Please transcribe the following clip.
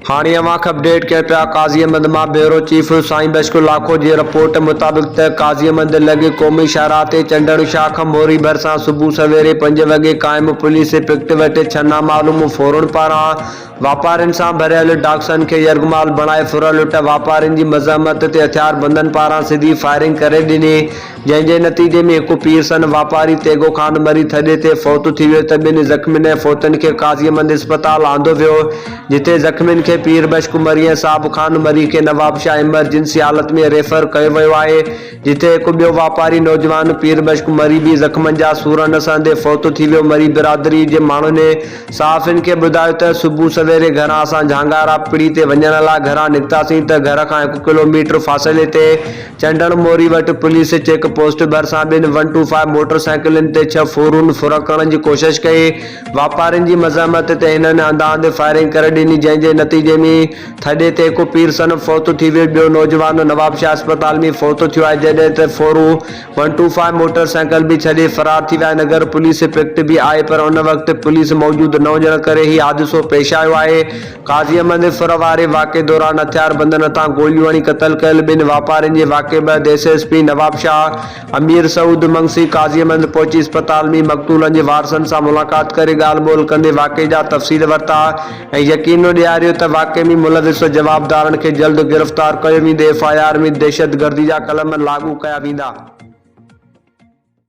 هاڻي اوهان کپڊيٽ ڪين پيا قاضي احمد مان بيورو چيف سائين بشڪ لاکو جي رپورٽ مطابق ته قاضي احمد لڳ قومي شاهراهه تي چنڊڻ شاهه کان موري ڀرسان صبح سويري پنج وڳي قائم پوليس پڪٽ وٽ ڇهه نامعلوم ڦورن پاران واپارين سان ڀريل ڊاڪسن کي يرغمال بڻائي ڦر لٽ واپارين جي مزاحمت تي هٿياربندن پاران سڌي فائرنگ ڪري ڏني جنهن جي نتيجي ۾ هڪ پير سن واپاري تيغو خان مري ٿڏي تي فوت ٿي ويو ته ٻنهي زخمين ۽ فوتن کي قاضي مند اسپتال آندو ويو جتي زخمين کي پير بشڪ مري ۽ صاحب خان مري کي نوابشاهه ايمرجنسي حالت ۾ ريفر ڪيو ويو آهي جتي هڪ ٻيو واپاري نوجوان پير بشڪ مري به زخمن جا سور نه سهندي فوت ٿي ويو مري برادري جي ماڻهن صحافين کي ٻڌايو ته صبح سويري گهران اسان جهانگارا پڙي تي وڃڻ لاء گهران نڪتاسين ته گهر کان هڪ ڪلو ميٽر فاصلي تي چنڊڻ موري وٽ پوليس چيڪ پوسٽ ڀرسان ٻن ون ٽو فائيو موٽر سائيڪلن تي ڇهه ڦورون ڦرڪڻ جي ڪوشش ڪئي، واپارين جي مزاحمت تي هنن انڌاهنڌ فائرنگ ڪري ڏني جنهن جي نتيجي ۾ ٿڏي تي هڪ پير صنم فوت ٿي ويو ٻيو نوجوان نوابشاهه اسپتال ۾ فوت ٿيو آهي جڏهن ته ڦورون one two five motorcycle به ڇڏي فرار ٿي ويا نگر پوليس پڪٽ به آئي پر ان وقت پوليس موجود نه هجڻ ڪري هي حادثو پيش آيو آهي. قاضي احمد ڦر واري واقعي دوران هٿياربندن هٿان گوليون هڻي قتل ڪيل ٻن واپارين جي واقعي بعد S S P Nawabshah Amir Saud Mangsi Qazi Ahmed پهچي اسپتال ۾ مقتولن جي وارثن سان ملاقات ڪري ڳالهه ٻولهه ڪندي واقعي جا تفصيل ورتا ۽ يقين ڏياريو ته واقعي ۾ ملوث جوابدارن کي جلد گرفتار ڪيو ويندو ايف آء آر ۾ دهشتگردي جا قلم لاڳو ڪيا ويندا.